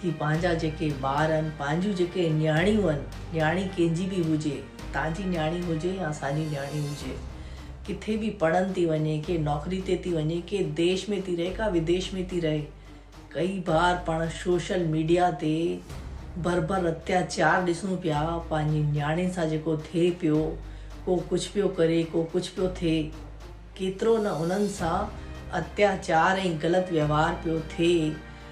ٿي پنهنجا جيڪي ٻار ان پنهنجيون جيڪي نياڻيون ان نياڻي ڪنهن جي به هجي تنهنجي نياڻي هجي يا اسانجي نياڻي هجي ڪٿي به پڙهن ٿي وڃي ڪي نوڪري تي ٿي وڃي ڪي ديش ۾ ٿي رهي ڪا وديش ۾ ٿي رهي ڪئي بار پاڻ سوشل ميڊيا تي بربر اتياچار ڏسون پيا پنهنجي نياڻين سان جيڪو ٿئي پيو ڪو ڪجهه پيو ڪري ڪو ڪجهه پيو ٿئي ڪيترو نه انهن سان اتياچار ۽ غلط ويوهار پيو ٿئي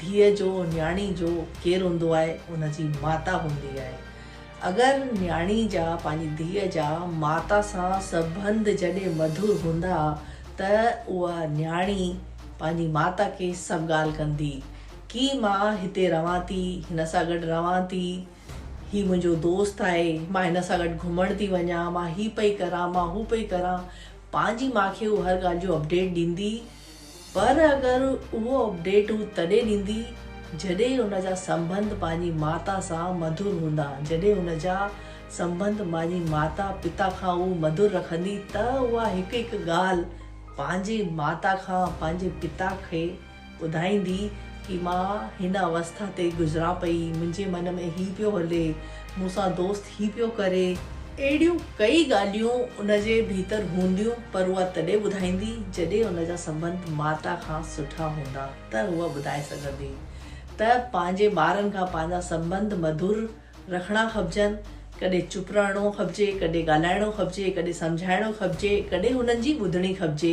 ڌيء جو، نياڻي جو، ڪير هوندو آهي؟ ان جي ماتا هوندي آهي. اگر نياڻي جا، پنهنجي ڌيء جا، ماتا سان سبنڌ جڏهن مڌر هوندا ته اها نياڻي پنهنجي ماتا کي سڀ ڳالهه ڪندي. ڪي مان هتي رهان ٿي، هن سان گڏ رهان ٿي، هي منهنجو دوست آهي، مان هن سان گڏ گهمڻ ٿي وڃان، مان هي پئي ڪران، مان هو پئي ڪران. پنهنجي ماء کي هو هر ڳالهه جو اپڊيٽ ڏيندي. پر اگر اهو اپڊيٽ هو تڏهن ڏيندي جڏهن هن جا سنبنڌ پنهنجي ماتا سان مڌر هوندا، جڏهن هن جا سنبنڌ پنهنجي ماتا پتا کان هو مڌر رکندي ته اها هڪ هڪ ڳالهه پنهنجي ماتا کان پنهنجي پتا کي ٻڌائيندي ڪي مان هن اوسٿا تي گذران پئي، منهنجي من ۾ هي پيو هلي، مون سان دوست ھي پيو ڪري. اھڙيون ڪئي ڳالھيون ان جي ڀيتر ھونديون پر اھا تڏھن ٻڌائيندي جڏھن ان جا سنٻنڌ ماتا کان سٺا ھوندا ته ھوء ٻڌائي سگھندي ته پنھنجي ٻارن کان پنھنجا سنٻنڌ مڌر رکڻا کپجن ڪڏھن چپ رھڻو کپجي ڪڏھن ڳالھائڻو کپجي ڪڏھن سمجھائڻو کپجي ڪڏھن ھنن جي ٻڌڻي کپجي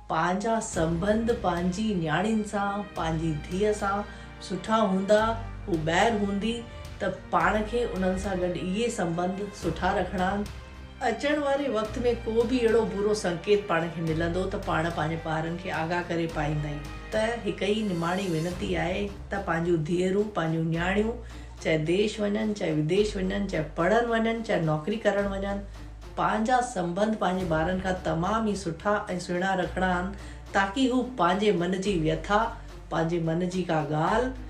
پنهنجا سنبنڌ پنهنجي نياڻين سان، پنهنجي ڌيء سان سٺا هوندا، هو ٻاهر هوندي ته پاڻ کي انهن سان گڏ اهي سنبنڌ سٺا رکڻا. اچڻ واري وقت ۾ ڪو به اهڙو برو سنڪيت پاڻ کي ملندو ته پاڻ پنهنجي ٻارن کي آگاهه ڪري پائيندائين ته هڪ ئي نماڻي وينتي آهي ته پنهنجون ڌيئرون، پنهنجون نياڻيون چاهي ديش وڃن، چاهي وديش وڃن، چاهي پڙهڻ وڃن، چاهي نوڪري ڪرڻ وڃن، پنهنجا سنبنڌ پنهنجي ٻارن کان تمام ئي سٺا ۽ سهڻا رکڻا آهن تاڪي هو پنهنجي من جي ويٿا، پنهنجي من جي ڪا ڳالهه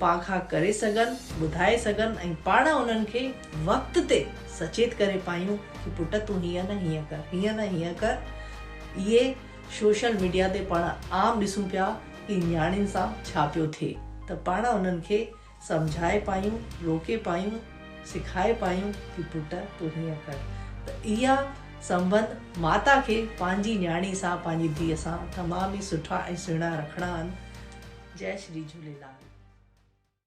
پان کان ڪري سگهن، ٻڌائي سگهن ۽ پاڻ انهن کي وقت تي سچيت ڪري پايون ڪي پٽ تون هيئن نه هيئن ڪر، هيئن نه هيئن ڪر. اهي سوشل ميڊيا تي پاڻ عام ڏسون پيا ڪي نياڻين سان ڇا پيو ٿئي ته پاڻ انهن کي سمجهائي پايون، روڪي پايون، سکائي پايون ته پٽ تون هيئن ڪر. ته اها سنبنڌ ماتا کي پنهنجي نياڻي سان، پنهنجي ڌيء سان تمام ئي سٺا ۽ سهڻا رکڻا آهن. جئي شري جهوليلال.